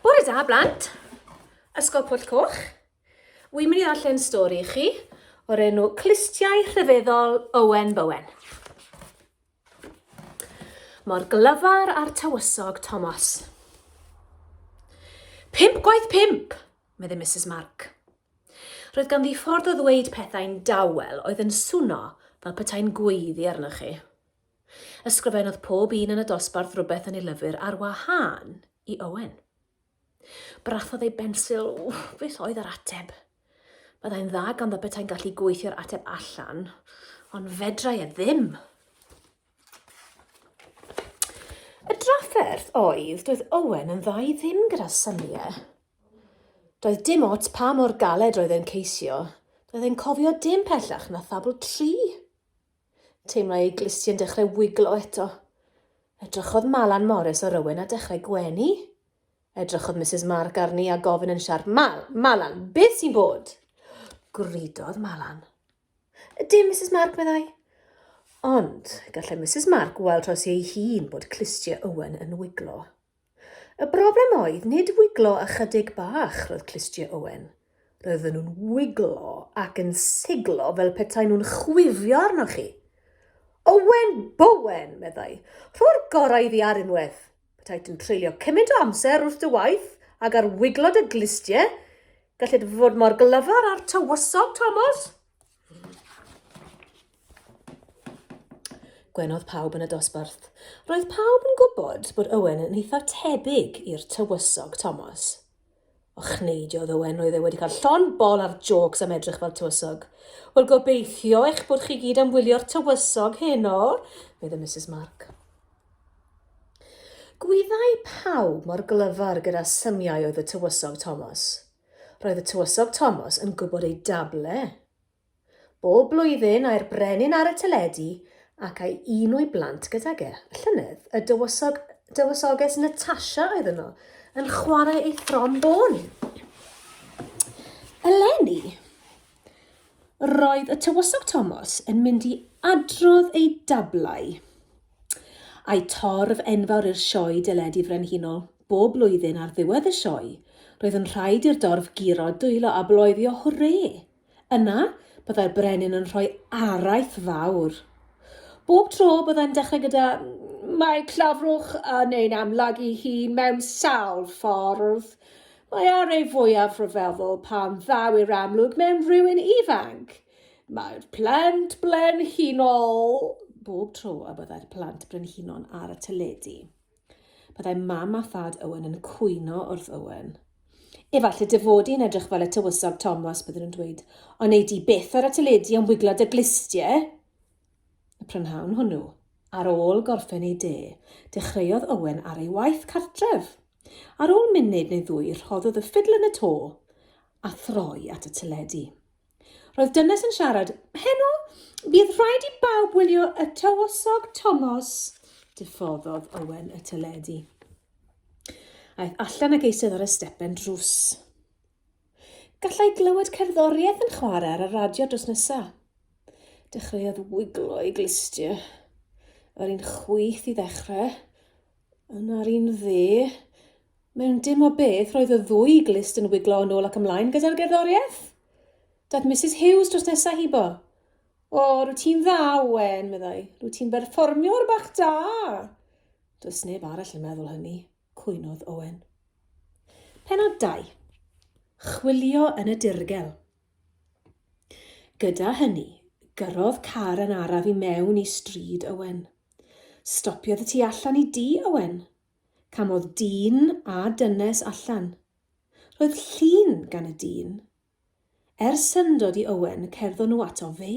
Bore da, blant. Ysgol Pwll Coch. Wy'n mynd i ddarllen stori i chi o'r enw Clustiau Rhyfeddol Owen Bowen. Mor glyfar a'r tywysog Thomas. Pimp gwaith pimp, meddai Mrs Mark. Roedd ganddi ffordd o ddweud pethau'n dawel oedd yn swno fel petai'n gweiddi arnoch chi. Ysgrifennodd pob un yn y dosbarth rywbeth yn ei lyfr ar wahân i Owen. Brathodd ei bensil, ww, beth oedd yr ateb? Byddai'n dda ganddo beta'n gallu gweithio'r ateb allan, ond fedrai e ddim. Y drafferth oedd, doedd Owen yn dda i ddim gyda syniau. Doedd dim ots pa mor galed roedd e'n ceisio, doedd e'n cofio dim pellach na thabl tri. Teimlai ei glusti yn dechrau wiglo eto. Edrychodd Malan Morris ar Owen a dechrau gwenu. Edrychodd Misus Mark arni a gofyn yn siarp, Mal, Malan, beth sy'n bod? Gwridodd Malan. Dim, Misus Mark, meddai. Ond gallai Misus Mark weld tros ei hun bod clustiau Owen yn wiglo. Y broblem oedd nid wiglo ychydig bach roedd clustiau Owen. Roedden nhw'n wiglo ac yn siglo fel petai nhw'n chwifio arnoch chi. Owen Bowen, meddai, rho'r gorau iddi ar unwaith. Petait yn treulio cymaint o amser wrth dy waith ag ar wiglo dy glustiau. Gallid fod mor glyfar â'r tywysog, Tomos. Gwenodd pawb yn y dosbarth. Roedd pawb yn gwybod bod Owen yn eitha tebyg i'r tywysog Thomas. O chneidiodd Owen, roedd e wedi cael llon bol ar jôcs am edrych fel tywysog. Wel, gobeithio eich bod chi gyd am wylio'r tywysog heno, medd y Mrs Mark. Gwyddai pawb mor glyfar gyda symiau oedd y tywysog Thomas. Roedd y tywysog Tomos yn gwybod ei dable. Bob blwyddyn ai'r brenin ar y teledu ac a'i un o'i blant gydag e. Y llynedd, y dywysog, dywysoges Natasha oedd yno, yn chwarae ei throm bôn. Eleni, roedd y tywysog Tomos yn mynd i adrodd ei dablau. Ai torf enfawr i'r Sioe Deledu Frenhinol bob blwyddyn ar ddiwedd y sioe, roedd yn rhaid i'r dorf guro, dwylo a bloeddio hwrê! Yna, byddai'r brenin yn rhoi araith fawr. Bob tro, byddai'n dechrau gyda, Mae clafrwch yn ein amlygu hun mewn sawl ffordd. Mae ar ei fwyaf rhyfeddol pan ddaw i'r amlwg mewn rhywun ifanc. Mae'r plant brenhinol bob tro y byddai'r plant brenhinon ar y teledu. Byddai mam a thad Owen yn cwyno wrth Owen. Efallai dy fod i'n edrych fel y tywysog Thomas, byddwn yn dweud, ond ei di beth ar y teledu am wiglo dy glistiau. Y prynhawn hwnnw, ar ôl gorffen ei de, dechreuodd Owen ar ei waith cartref. Ar ôl munud neu ddwy, rhoddodd y ffidl yn y to a throi at y teledu. Roedd dynes yn siarad. Heno, bydd rhaid i bawb wylio y tywysog Tomos. Diffoddodd Owen y teledu. Aeth allan ag eisodd ar y stepen drws. Gallai glywed cerddoriaeth yn chwarae ar y radio dros nesa. Dechreuodd wiglo ei glustiau. Yr un chwith i ddechrau. Yn ar un dde. Mewn dim o beth, roedd y ddwy glust yn wiglo yn ôl ac ymlaen gyda'r gerddoriaeth. Daeth Mrs Hughes dros nesaf hibo. O, rwy ti'n dda, Owen, meddai. Rwy ti'n berfformiwr bach da! Does neb arall yn meddwl hynny, cwynodd Owen. Penod 2. Chwilio yn y dirgel. Gyda hynny, gyrrodd car yn araf i mewn i stryd Owen. Stopiodd y tu allan i dŷ Owen. Camodd dyn a dynes allan. Roedd llun gan y dyn. Er syndod i Owen, cerddo nhw ato fe.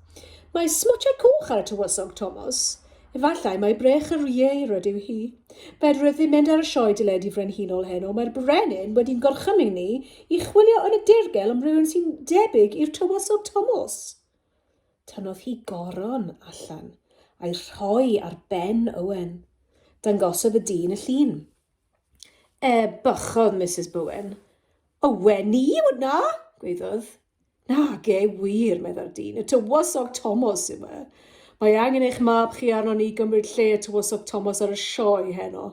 Mae smotiau coch ar y tywysog, Tomos. Efallai mai brech yr ieir ydyw hi. Fedrwch ddim mynd ar y sioe deledu frenhinol heno, mae'r brenin wedi'n gorchymyn ni i chwilio yn y dirgel am rywun sy'n debyg i'r tywysog Tomos. Tynnodd hi goron allan a'i rhoi ar ben Owen. Dangosodd y dyn y llun. E, bychodd Mrs Bowen. Owen ni yw hwnna, gweiddodd. Nage wir, meddai'r dyn, y tywysog Tomos yw e. Mae angen eich mab chi arno ni gymryd lle y tywysog Tomos ar y sioe heno.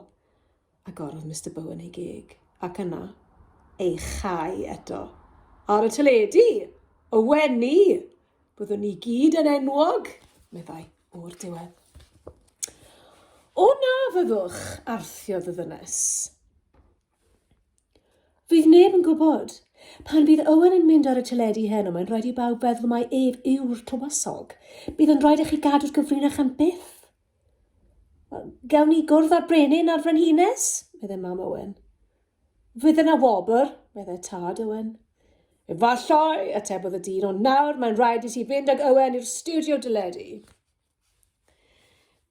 Agorodd Mister Bowen ei geg, ac yna, ei chau eto. Ar y teledu! Y wenu! Byddwn ni gyd yn enwog, meddai, o'r diwedd. O na fyddwch, arthiodd y ddynes. Fydd neb yn gwybod. Pan bydd Owen yn mynd ar y teledu heno, mae'n rhaid i bawb feddwl mai ef yw'r tywysog. Bydd yn rhaid i chi gadw'r gyfrinach am byth. Gawn ni gwrdd â'r brenin a'r frenhines, meddai mam Owen. Fydd yna wobr, meddai tad Owen. Efallai, atebodd y dyn, ond nawr mae'n rhaid i ti fynd ag Owen i'r studio dyledu.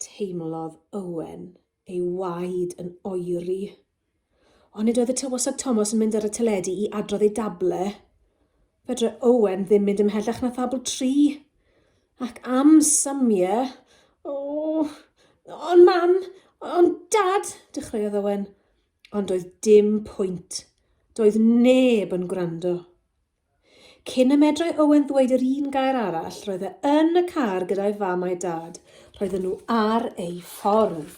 Teimlodd Owen ei waed yn oeri. Ond nid oedd y tywysog Tomos yn mynd ar y teledu i adrodd ei dable. Fedre Owen ddim mynd ymhellach na thabl tri. Ac am Samie... O! Ond mam! Ond dad! dechreuodd Owen. Ond doedd dim pwynt. Doedd neb yn gwrando. Cyn y medrai Owen ddweud yr un gair arall, roedd e yn y car gyda'i fam a'i dad. Roedden nhw ar eu ffordd.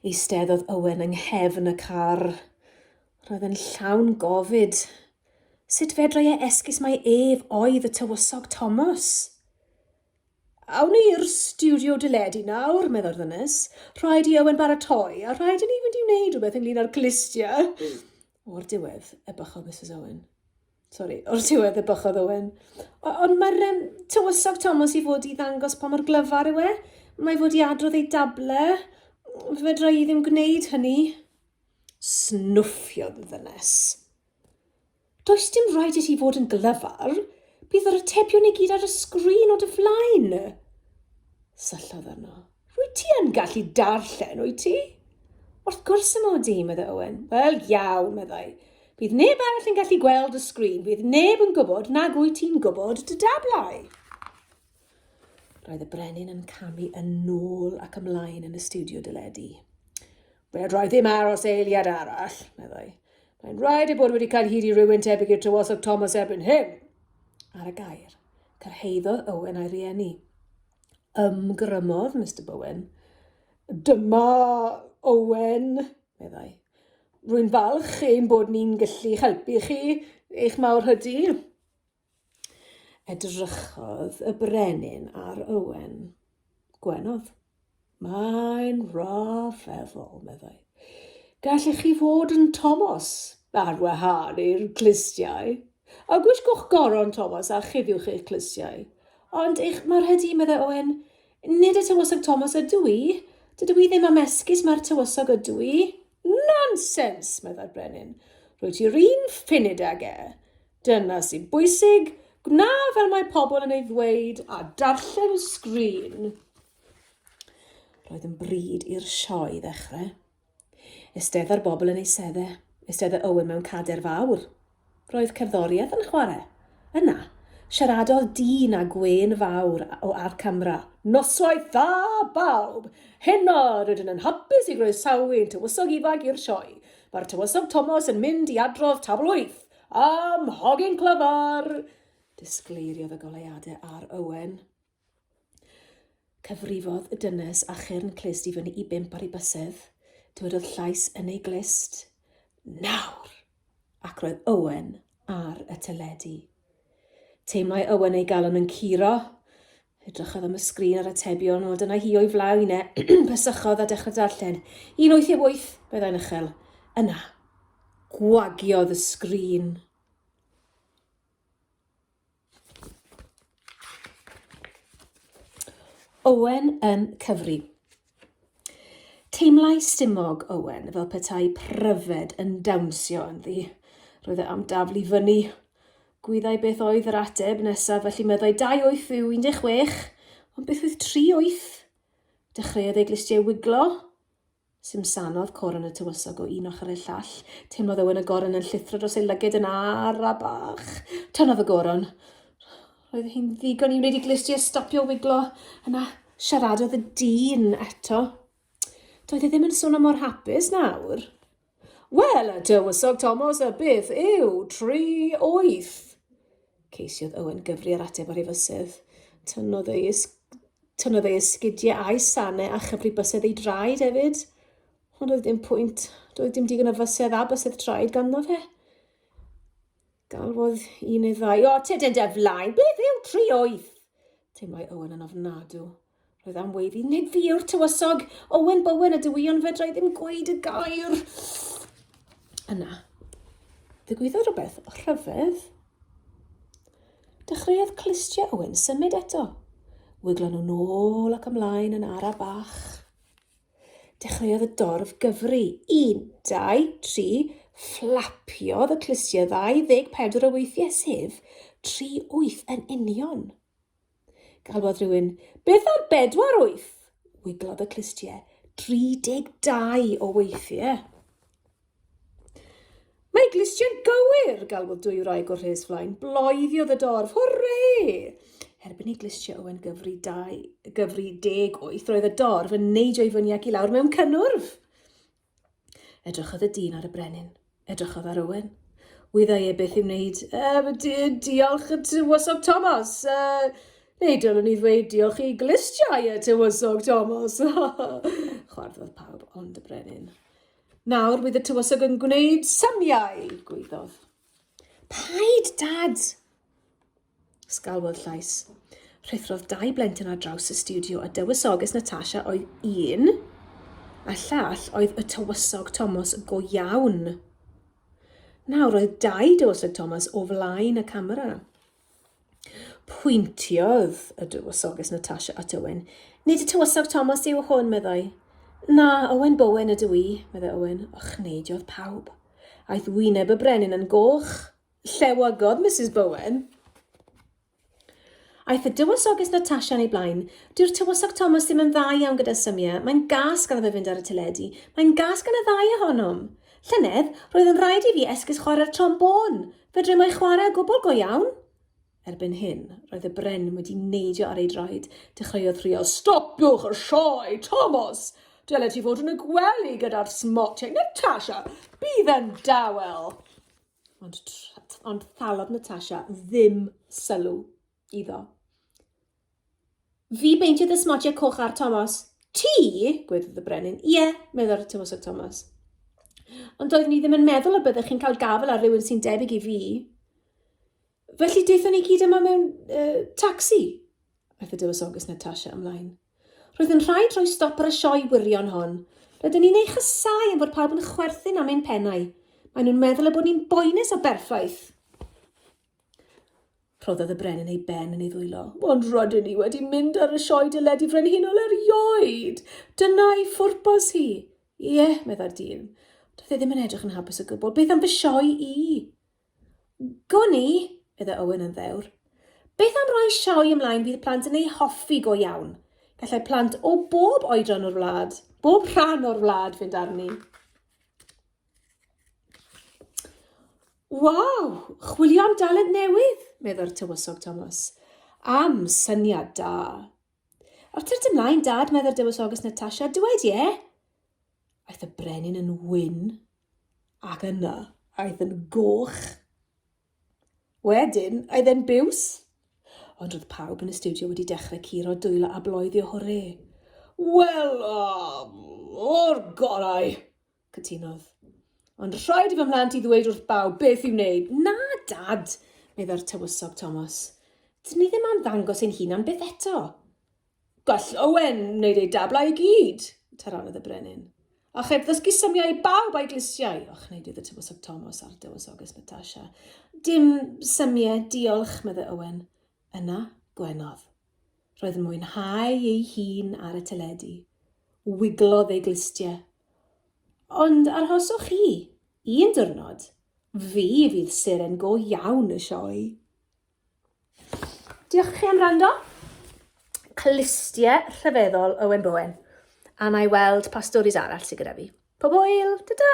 Eisteddodd Owen yng nghefn y car. Roedd e'n llawn gofid. Sut fedrai e esgus mai ef oedd y tywysog Thomas? Awn ni i'r studio deledu nawr, meddai'r ddynes. Rhaid i Owen baratoi, a rhaid i ni fynd i wneud rhywbeth ynglyn â'r clustia. O'r diwedd, ebychodd Misus Owen. Sori, o'r diwedd, ebychodd Owen. Ond mae'r um, tywysog Thomas i fod i ddangos pa mor glyfar yw e. Mae fod i adrodd ei dable. Fedra i ddim gwneud hynny. Snwffiodd y ddynes. Does dim rhaid i ti fod yn glyfar. Bydd yr atebion i gyd ar y sgrin o dy flaen. Syllodd arno. Wyt ti yn gallu darllen, wyt ti? Wrth gwrs y mod i, meddai Owen. Wel, iawn, meddai. Bydd neb arall yn gallu gweld y sgrin. Bydd neb yn gwybod nag wyt ti'n gwybod dy dablau. Roedd y brenin yn camu yn nôl ac ymlaen yn y studio dyledu. Wel, roedd ddim aros eiliad arall, meddai. Mae'n rhaid ei bod wedi cael hyd i rywun tebyg i'r tywosog Thomas erbyn hyn. Ar y gair, cyrhaeddodd Owen a'i rieni. Ymgrymodd Mister Bowen. Dyma Owen, meddai. Rwy'n falch ein bod ni'n gallu helpu chi, eich mawr hydy. Edrychodd y brenin ar Owen. Gwenodd. Mae'n rhyfeddol, meddai. Gallech chi fod yn Tomos ar wahân i'r clustiau. A gwisgwch goron Tomos a chifiwch eich clustiau. Ond eich marchedu, meddai Owen. Nid y tywysog Tomos ydw i. Dydw i ddim am esgus, mae'r tywysog ydw i. Nonsens, meddai'r brenin. Rwyt ti'r un funud ag e. Dyna sy'n bwysig, gwna fel mae pobl yn ei ddweud a darllen sgrin. Roedd yn bryd i'r sioe ddechrau. Ystedda'r bobl yn ei sedde. Ystedda Owen mewn cader fawr. Roedd cerddoriaeth yn chwarae. Yna, siaradodd dyn a gwên fawr o ar camera. Noswaith dda, bawb! Heno, rydyn yn hapus i groesawu ein tywysog ifanc i'r sioe. Mae'r tywysog Thomas yn mynd i adrodd tabl wyth am hogyn clyfar! Disgleiriodd y goleuadau ar Owen. Cyfrifodd y dynes a chyrn clust i fyny i bump ar ei bysedd. Dywedodd llais yn ei glust, Nawr! Ac roedd Owen ar y teledu. Teimlai Owen ei galon yn curo. Edrychodd am y sgrin a'r atebion, wel dyna hi o'i flaen e. Pysychodd a dechrau darllen. 188, meddai'n uchel. Yna, gwagiodd y sgrin. Owen yn cyfri. Teimlai stumog Owen fel petai pryfed yn dawnsio ynddi. Roedd e am daflu fyny. Gwyddai beth oedd yr ateb nesaf, felly meddai 2 wyth yw 16, ond beth oedd 3 wyth? Dechreuodd ei glustiau wiglo. Simsanodd Coron y tywysog o un ochr i'r llall. Teimlodd Owen y Goron yn llithro dros ei lyged yn ara bach. Tynnodd y Goron. Roedd hi'n ddigon i wneud i Glystiau stopio wiglo. Yna, siaradodd y dyn eto. Doedd e ddim yn swnio mor hapus nawr. Wel, y tywysog Tomos, y beth yw tri wyth? Ceisiodd Owen gyfri ar ateb o'r hyfysydd. Tynnodd ei Tynnodd ei esgidiau a'i sanau a chyfri bysedd ei draed hefyd. Ond oedd dim pwynt. Doedd dim digon o fysedd a bysedd traed ganddo fe. Galwodd un neu ddau, o, te dyn dy flaen, beth yw tri oedd? Teimlai Owen yn ofnadw. Roedd am weiddi, nid fi yw'r tywysog, Owen Bowen y dywion fedrai ddim gweud y gair. Yna, ddigwyddodd rhywbeth rhyfedd. Dechreuodd clustiau Owen symud eto. Wiglon nhw nôl ac ymlaen yn ara bach. Dechreuodd y dorf gyfri. Un, dau, tri, fflapiodd y clustiau 24 o weithiau, sef 38 yn union. Galwodd rhywun, beth am bedwar wyth? Wiglodd y clustiau 32 o weithiau. Mae glustiau'n gywir! galwodd dwyraig o rhes flaen. Bloediodd y dorf. Hwrê! Erbyn i glustiau Owen gyfri, dau, gyfri deg wyth, roedd y dorf yn neidio i fyny ac i lawr mewn cynnwrf. Edrychodd y dyn ar y brenin. Edrychodd ar Owen. Wyddai e beth i wneud. Uh, di, diolch y tywysog Thomas. Uh, neu dylwn i ddweud diolch i glustiau y tywysog Thomas. Chwarddodd pawb ond y brenin. Nawr bydd y tywysog yn gwneud symiau, gwyddodd. Paid, Dad! Sgalwodd llais. Rhithrodd dau blentyn ar draws y studio a dywysoges Natasha oedd un, a llall oedd y tywysog Thomas go iawn. Nawr oedd dau dywysog Thomas o flaen y camera. Pwyntiodd y Dywysoges Natasha at Owen. Nid y Tywysog Thomas yw hwn, meddai. Na, Owen Bowen ydw i, meddai Owen. Ochneidiodd pawb. Aeth wyneb y brenin yn goch. Llewygodd Mrs Bowen. Aeth y Dywysoges Natasha yn ei blaen. Dyw'r Tywysog Thomas ddim yn dda iawn gyda symiau. Mae'n gas gan fe fynd ar y teledu. Mae'n gas gan y ddau ohonom. Llynedd, roedd yn rhaid i fi esgus chwarae'r trombôn, Fedrai mai chwarae gwbl go iawn? Erbyn hyn, roedd y brenin wedi neidio ar ei draed. Dechreuodd rhuo, Stopiwch y sioe, Tomos! Dylet ti fod yn y gwely gyda'r smotiau. Natasha, bydd yn dawel! Ond, ond thalodd Natasha ddim sylw. iddo. Fi beintydd y smotiau coch ar Thomas. Ti? gwedodd y brenin. Ie, meddai'r tywysog Thomas. Ond doeddwn ni ddim yn meddwl y byddech chi'n cael gafel ar rywun sy'n debyg i fi. Felly deithon ni gyd yma mewn uh, taxi, aeth y dywysoges Natasha ymlaen. Roedd yn rhaid rhoi stop ar y sioe wirion hon. Rydyn ni'n ei chysau am fod pawb yn chwerthin am ein pennau. Maen nhw'n meddwl y bod ni'n boenus o berffaith. Rhoddodd y brenin ei ben yn ei ddwylo. Ond rydyn ni wedi mynd ar y sioe dyled i frenhinol erioed. Dyna ei phwrpas hi. Ie, yeah, meddai'r dyn. Doedd e ddim yn edrych yn hapus o gwbl. Beth am fy sioe i? Gwn i, meddai Owen yn ddewr. Beth am roi sioe ymlaen bydd plant yn ei hoffi go iawn? Gallai plant o bob oedran o'r wlad, bob rhan o'r wlad fynd arni. Waw! Chwilio am dalent newydd, meddai'r Tywysog Thomas. Am syniad da. Wrth i'r ymlaen, Dad, meddai'r Dywysoges Natasha, dywed ie. Aeth y brenin yn wyn, ac yna aeth yn goch. Wedyn, aeth e'n biws. Ond roedd pawb yn y studio wedi dechrau curo dwylo a bloeddio hwre. Wel, um, o'r gorau! Cytunodd. Ond rhaid i fy mhlant i ddweud wrth bawb beth i'w wneud. Na, Dad, meddai'r tywysog Thomas. Dyn ni ddim am ddangos ein hunan byth eto. Gall Owen wneud ei dablau i gyd, taranodd y brenin. A cheb ddysgu symiau i bawb a'i glisiau, o chneidiodd y tywysog Thomas a'r dywysoges Natasha. Dim symiau, diolch, meddai Owen. Yna, gwenodd. Roedd yn mwynhau ei hun ar y teledu. Wiglodd ei glustiau. Ond arhoswch chi, un diwrnod, fi fydd seren go iawn y sioe. Diolch chi am wrando. Clustiau rhyfeddol Owen Bowen. A na i weld pa storis arall sydd gyda fi. Pob hwyl, ta-ta!